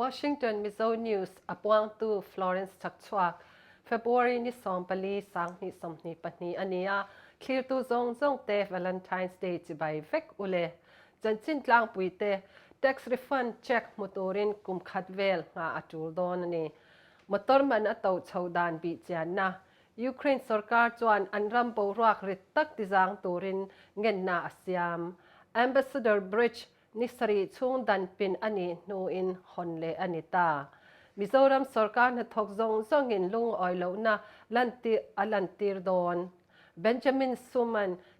Washington, Mizo News, a puangtu Florence Chakchhuak, February ni sawm pali sang hnih sawmhnih pahnih a ni a, thlirtu zawng zawng te Valentine's Day chibai vek u le. Chanchin tlangpui te, tax refund cheque hmu turin kum khat vel hnga a tul dawn a ni. Motor man a to chho dan bih chianna, Ukraine sorkar chuan an ram boruak rit tak tizang turin ngenna a siam. Ambassador Bridge ni sarih chhungdan pin a nih hnuin hawn leh a ni ta. Mizoram sorkar hnathawk zawng zawngin lungawi lohna lantir a lantir dawn. Benjamin Suman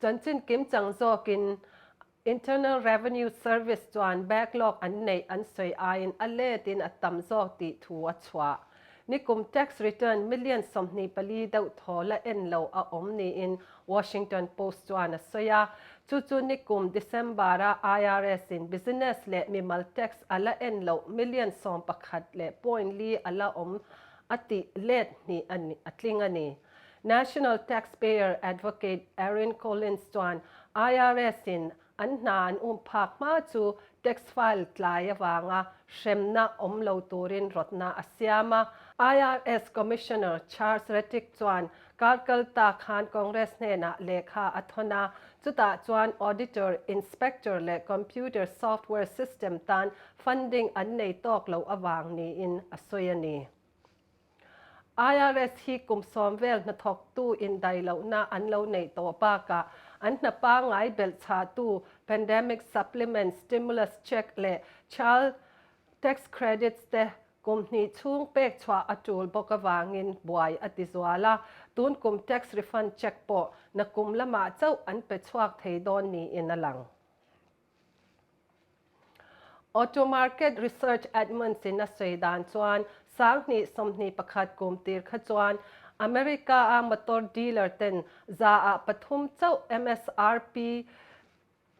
Chanchin kim chang zawkin Internal Revenue Service chuan backlog an neih an sawi aiin a let in a tam zawk tih thu a chhuah. Nikum tax return million sawmhnih pali deuh thaw la en lo a awm niin Washington Post chuan a sawi a. Chu chu nikum December-a IRS in business leh mimal tax a la en loh million sawm pakhat leh point li a la awm a tih let hnih a tling a ni. National Taxpayer Advocate Erin Collins chuan IRS in an hna an um phak hma chu tax file tlai avanga hremna awm lo turin rawtna a siam a. IRS Commissioner Charles Rettig chuan kar kal ta khan Congress hnenah lehkha a thawn a, chutah chuan auditor, inspector leh computer software system tan funding an nei tawk loh avang niin a sawi a ni. IRS hi kum sawm vel hnathawktu indai lohna an lo neih tawh bakah an hna pangai belh chhahtu Pandemic Supplement Stimulus Cheque leh Child Tax Credits te kum hnih chhung pek chhuah a tul bawk avangin buai a ti zual a, tun kum tax refund cheque pawh na kum lamah chauh an pe chhuak thei dawn niin a lang. Auto Market Research Edmunds in a sawi dan chuan Sanghnih sawmhnih pakhat kum tir kha chuan America a motor dealer ten za ah pathum chauh msrp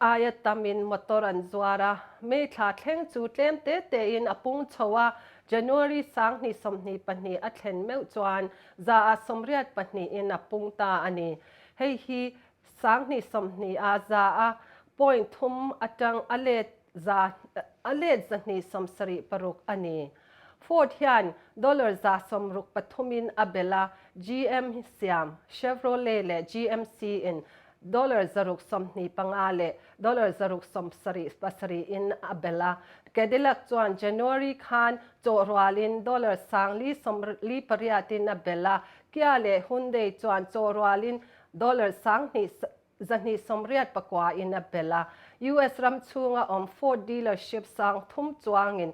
aia tam in motor an zuar a, May thla thleng chu tlem te te in a pung chho a, January sanghnih sawmhnih pahnih a thlen meuh chuan za ah sawmriat pahnih in a pung ta a ni. Hei hi Sang hnih sawmhni a za a, point thum atang a let za a let za hnih sawm sarih paruk a ni. Ford hian dollar za sawm ruk pathum in a bel a, GM siam, Chevrolet leh GMC in dollar za ruk sawmhni panga leh dollar za ruk sawm sarih pasarih in a bel a, Cadillac chuan January khan chawh rual in dollar sang li sawm li pariat in a bel a, Kia leh Hyundai chuan chawh rual in Dollar sang hnih zahnih sawmriat pakua in a belh a. US ram chhunga awm Ford dealership sang thum chuangin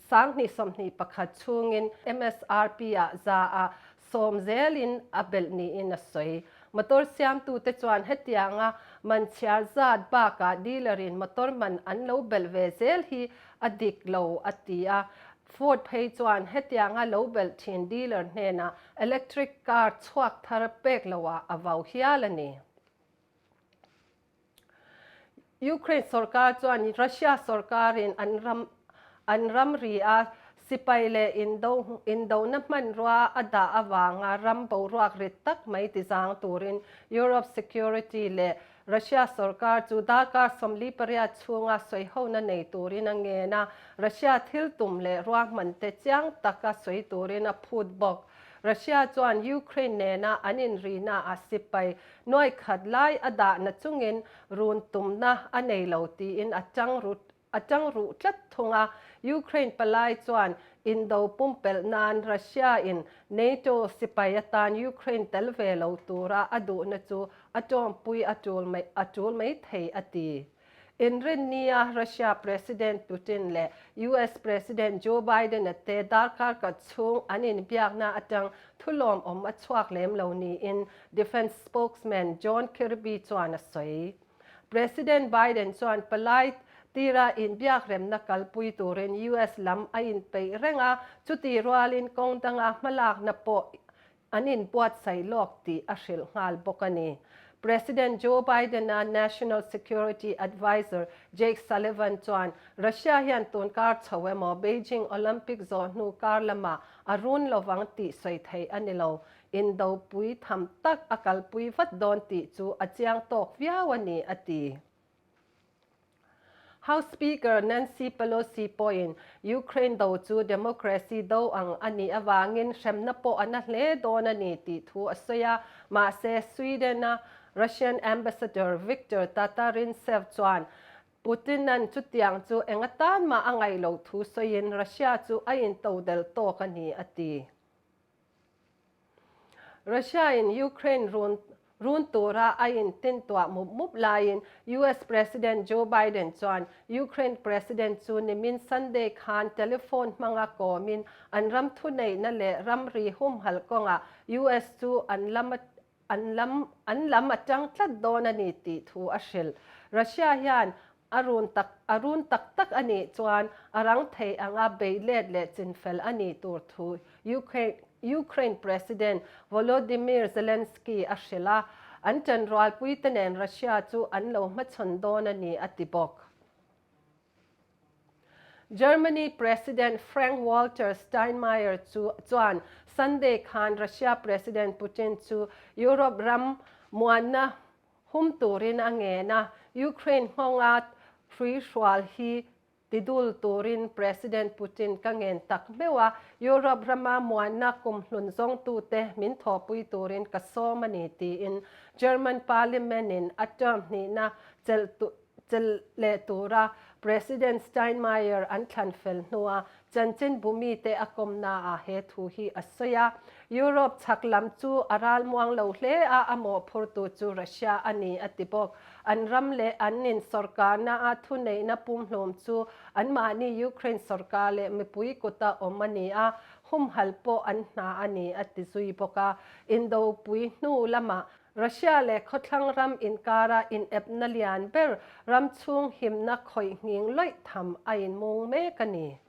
sang hnih sawmhnih pakhat chhungin msrp a za a, sawm zel in a belh niin a sawi. Motor siamtu te chuan hetianga man chhiar zat bakah dealer in motor man an lo belh ve zel hi a dik lo a ti a. Ford phei chuan hetianga lo belh thin dealer hnenah Electric car chhuak thar pek lo ah a vau hial a ni. Ukraine sorkar chuan Russia sorkar in an ram an ramri a sipai leh indo indona hmanrua a dah avanga ram boruak rit tak mai ti zang turin Europe Security leh Russia sorkar chu darkar sawmli pariat chhunga sawihona nei turin a ngen a, Russia thil tum leh ruahman te chiang taka sawi turin a phut bawk. Russia chuan Ukraine nena an inrihnaah sipai nuaikhat lai a dahna chungin run tumna a nei lo tiin a chang rut A tang ruh tlat thung a, Ukraine palai chuan indo pumpelh nan Russia in NATO sipai atan Ukraine tel ve lo tura a duhna chu a tawmpui a tul mai a tul mai thei a ti. Inrinnia Russia President Putin leh US President Joe Biden-a te darkar kat chhung an inbiakna atang thu lawmawm a chhuak lem lo niin Defence Spokesman John Kirby chuan a sawi. President Biden chuan palai tira inbiakremna kalpui turin US lam a inpeih reng a, chuti rualin kawng danga hmalakna pawh an inbuatsaih lawk tih a hrilh nghal bawk a ni. President Joe Biden-a National Security Adviser Jake Sullivan chuan Russia hian tun kar chho emaw Beijing Olympic zawh hnu kar lamah a run lo vang tih sawi thei a ni lo. Indopui tham tak a kalpui vat dawn tih chu a chiang tawk viau a ni, a ti. House Speaker Nancy Pelosi pawhin Ukraine do chu democracy do ang a nih avangin hremna pawh a na hle dawn a ni tih thu a sawi a. Mahse, Sweden-a Russian Ambassador Viktor Tatarintsev chuan Putin-a'n chutiang chu enga tan mah a ngaih loh thu sawiin Russia chu a intodelh tawk a ni, a ti. Russia-in Ukraine run run tura a intintuah mup mup laiin US President Joe Biden chuan Ukraine President chu nimin Sunday khan telephone hmanga kawmin an ram thuneihna leh ram ri humhalh kawnga US chu an lam a an lam an lam a tang tlat dawn a ni tih thu a hrilh. Russia hian a run tak a run tak tak a nih chuan a rang thei ang a beih let leh chin fel a ni tur thu Ukraine Ukraine President Volodymyr Zelensky a hrilh a, an ṭan rualpuite nen Russia chu an lo hmachhawn dawn a ni a ti bawk. Germany President Frank Walter Steinmeier chu chuan Sunday khan Russia President Putin chu Europe ram muanna hum turin a ngen a, Ukraine hmawnga hruihrual hi ti dul turin President Putin ka ngen tak hmeuh a, Europe rama muanna kum hlun zawngtute min thawhpui turin ka sawm a ni tiin German Parliament-in a term hnihna chelh Chel leh tura President Steinmeier an thlan fel hnua chanchin Bumite a kawmnaah he thu hi a sawi a, Europe chhak lam chu a ralmuang lo hle a, a mawhphurtu chu Russia a ni a ti bawk. An ram leh an in sorkarna a thuneihna pumhlum chu anmahni Ukraine sorkar leh mipui kuta awm a ni a, humhal pawh an hna a ni a ti zui bawk a. Indopui hnu lamah Russia leh khawthlang ram inkara inepna lian ber ramchhung himna khawihhning loih tham a inmung mek a ni.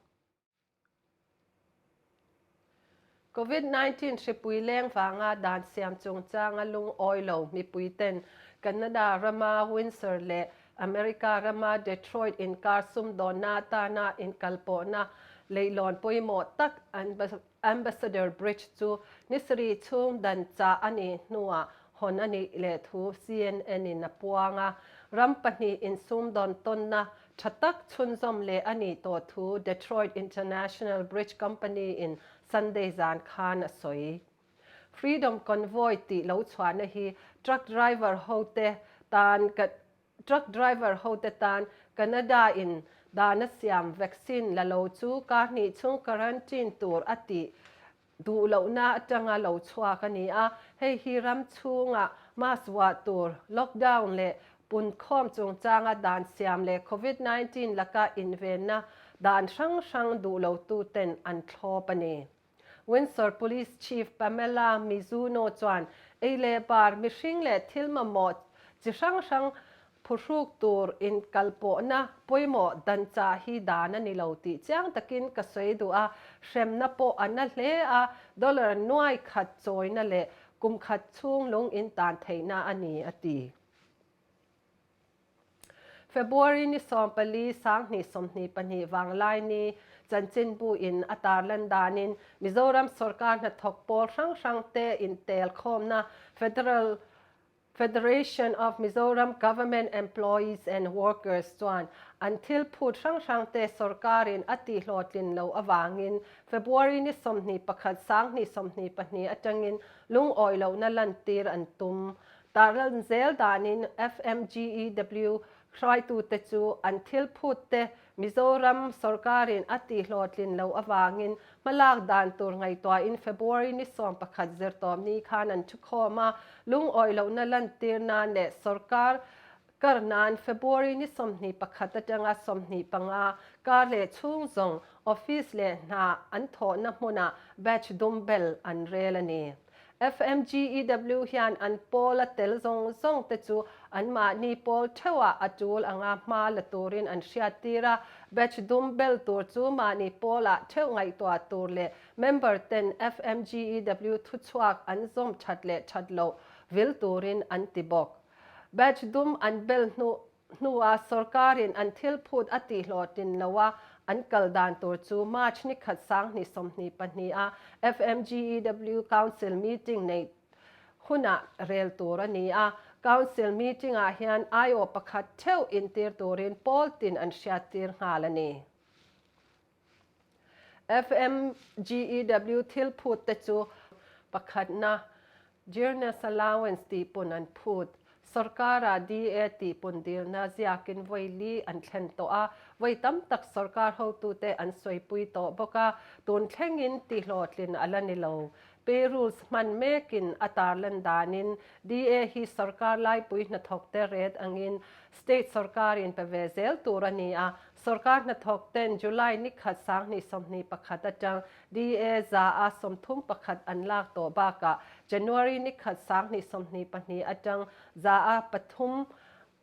Covid nineteen hripui leng vanga dan siam chungchanga lungawi lo mipuiten Canada rama Windsor leh America rama Detroit inkar sumdawnna atana inkalpawhna leihlawn pawimawh tak an Ambassador Bridge chu nisarih chhung dan chah a nih hnuah hawn a nih leh thu CNN-in a puang a. Ram pahnih insumdawn tawnna tha tak chhunzawm leh a nih tawh thu Detroit International Bridge Company-in Sunday zan khan a sawi. Freedom Convoy tih lo chhuahna hi truck driver hote tan Truck driver hote tan Canada in dana siam vaccine la lo chu kar hnih chung quarantine tur a tih duh lohna atanga lo chhuak a ni a, hei hi ram chhunga mask vuah tur, lockdown leh punkhawm chungchanga dan siam leh Covid nineteen laka invenna dan hrang hrang duh lo tu ten an thlawp a ni. Windsor Police Chief Pamela Mizuno chuan ei leh bar, mihring leh thil mamawh chi hrang hrang phuhruk tur inkalpawhna pawimawh dan chah hi dan a ni lo tih chiang takin ka sawi duh a, hremna pawh a na hle a, dollar nuai khat chawina leh kum khat chhung lung intan theihna a ni, a ti. February ni sawm pali sanghnih sawmhnih pahnih vang Laini chanchin bu in a tar lan danin Mizoram sorkar hnathawk pawl hrang hrang te in tel khawmna Federal Federation of Mizoram Government Employees and Workers chuan an thil phut hrang hrang te sorkar in a tihhlawh tlin lo avangin February ni sawmhnih pakhat sanghnih sawmhnih pahnih atangin lungawi lohna lantir an tum Tarlan zel danin FMGEW hruaitute chu an thil phutte Mizoram sawrkarin a tihhlawhtlin lo avangin hmalak dan tur ngaihtuahin February ni sawm pakhat zirtawmni khan an thukhawm a, lungawi lohna lantir nan leh sawrkar Kar nan February ni sawmhnih pakhat atanga sawmhnih panga kar leh chhung zawng office leh hna an thawhna hmunah batch dum bel an rel a ni. FMGEW hian an pawla tel zawng zawng te chu anmahni pawl theuhah a tul anga hma la turin an hriattir a, batch dum bel tur chu mahni pawla theuh ngaihtuah tur leh member ten FMGEW thuchhuak an zawm that leh that loh vil turin an ti bawk. Badge dum an bel hnu hnua sorkarin an thil phut a tihhlawh tin loha an kal dan tur chu March nikhat sanghnih sawmhnih pahnih a FMGEW Council meeting neih hunah rel tur a ni a. Council meeting ah hian aiawh pakhat theuh intir turin pawl tin an hriattir nghal a ni. FMGEW thil phut te chu pakhatna Dearness Allowance tih pun an phut. Sorkara DA tih pun dirna ziakin vawi li an thlen tawh a, vawi tam tak sorkar hotute an sawipui tawh bawk a, tun thlengin tihlawhtlin a la ni lo. Perus hman mekin a tarlan danin DA hi sawrkar laipui hnathawkte ret angin state sawrkarin pe ve zel tur a ni a. Sawrkar hnathawkte'n July nikhat sanghnih sawmhnih pakhat atang DA za a sawmthum pakhat an lak tawh bakah January nikhat sanghnih sawmhnih pahnih atang za a pathum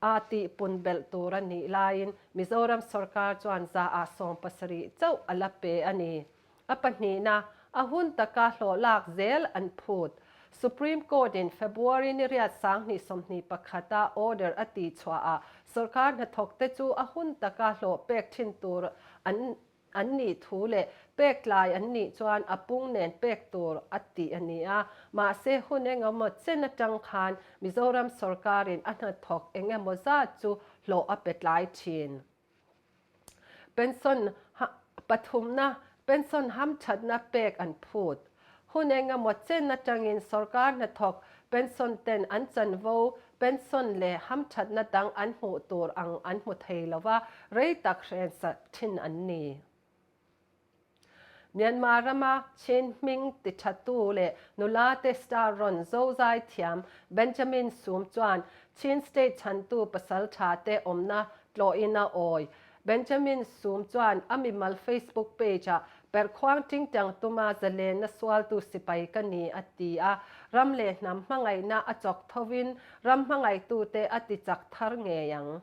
a tihpun belh tur a nih laiin Mizoram sawrkar chuan za a sawm pasarih chauh a la pe a ni. a pahnihna a hun taka hlawhlak zel an phut. Supreme Court-in February niriat sang hnih sawmhnih pakhata order a ti chhuahah sorkar hnathawkte chu a hun taka hlawh pek thin tur an an nih thu leh pek tlai an nih chuan a pung nen pek tur a ti a ni a. Mahse hun engemaw chen atang khan Mizoram sorkarin a hnathawk engemawzat chu hlawh a pe tlai thin. Pension pathumna, pension hamthatna pek an phut. Hun engemaw chen atangin sorkar hnathawk pension ten an chanvo, pension leh hamthatna dang an hmuh tur ang an hmu thei lova, rei tak hrensa thin an ni. Myanmar rama Chin hming ti thatu leh nula te star rawn zozai thiam Benjamin Sum chuan Chin state chhantu pasal tha te awmna tlawhin a awi. Benjamin Sum chuan a mimal Facebook page ah perhkhuang tingtiang tuma zalenna sualtu sipai ka ni a ti a, ram leh hnam hmangaihna a chawk tho in ram hmangaihtu te a tichak thar ngei ang.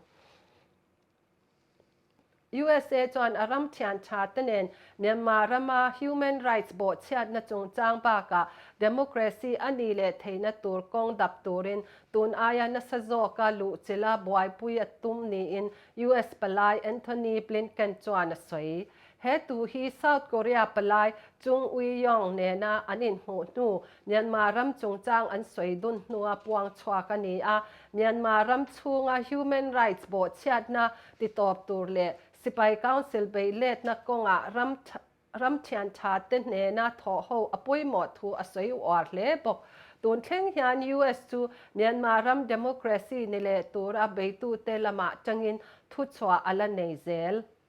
Usa chuan a ram thiantha te nen Myanmar rama Human Rights bawh chhiatna chungchang bakah Democracy a nih leh theihna tur kawng dap turin tun aia nasa zawka luhchila buaipui a tum niin US palai Antony Blinken chuan a sawi. He tu hi South Korea palai Chung Ui-yong nena an inhmuh hnu Myanmar ram chungchang an sawi dun hnua puang chhuak a ni a. Myanmar ram chhunga Human Rights bawhchhiatna ti tawp tur leh Sipai Council beiletna kawnga ram ram thiantha te hnena thawhho a pawimawh thu a sawi uar hle bawk. Tun thleng hian US chu Myanmar ram democracy ni leh tura beitute lama tangin thuchhuah a la nei zel.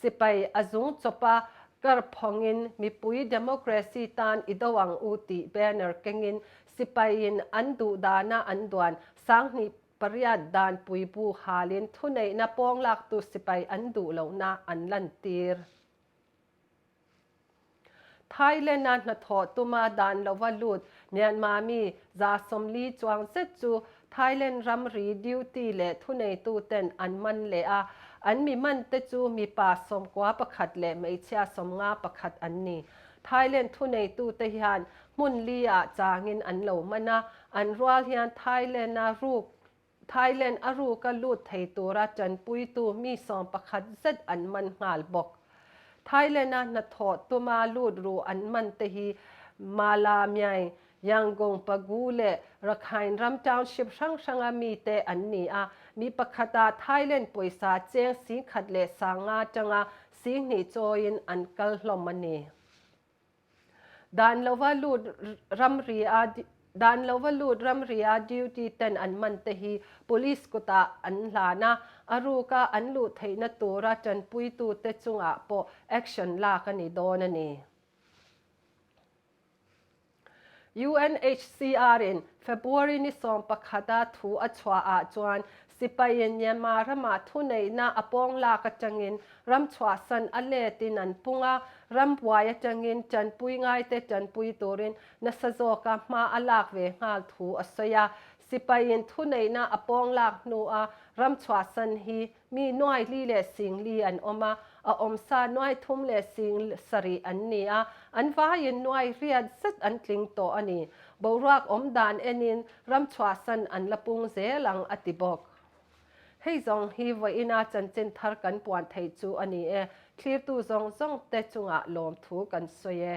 Sipai a zung chawp a, kar phawngin mipui democracy tan i do ang u tih banner kengin sipaiin an duhdana an duan. Sanghnih pariat dan puibu halin thuneihna pawng laktu sipai an duh lohna an lantir. Thailand-a hnathawh tuma dan lova lut Myanmar mi za sawmli chuang zet chu Thailand ramri duty leh thuneituten an man leh a, an mi mante chu mipa sawmkua pakhat leh hmeichhia sawmnga pakhat an ni. Thailand thuneitute hian hmun li ah changin an lo man a, an rual hian Thailand-a ruk Thailand a ruka lut thei tura tanpuitu mi sawm pakhat zet an man nghal bawk. Thailand-a hnathawh tuma lut ru an man te hi Mala, Myai, Yangon, Pagú leh Rakhine ram township hrang hranga mite an ni a, mi pakhata Thailand pawisa cheng sing khat leh sang nga tanga sing hnih chawiin an kal hlawm a ni. Dan lova lut ramria Dan lova lut ramria duty ten an man te hi police kutah an hlan a, a ruka an luh theihna tura tanpuitu te chungah pawh action lak a ni dawn a ni. UNHCR-in February ni sawm pakhata thu a chhuah ah chuan Sipaia Myanmar rama thuneihna a pawng lak atangin ram chhuahsan a let in an pung a, ram buai atangin tanpui ngaite tanpui turin nasa zawka hma a lak ve nghal thu a sawi a. Sipaiin thuneihna a pawng lak hnua ram chhuahsan hi mi nuai li leh sing li an awm a, a awm sa nuai thum leh sing sarih an ni a, an vaiin nuai riat zet an tling tawh a ni. Boruak awm dan enin Ram chhuahsan an la pung zel ang, a ti bawk. Hei zawng hi vawiina chanchin thar kan puan thei chu a ni e, thlirtu zawng zawngte chungah lawmthu kan sawi e.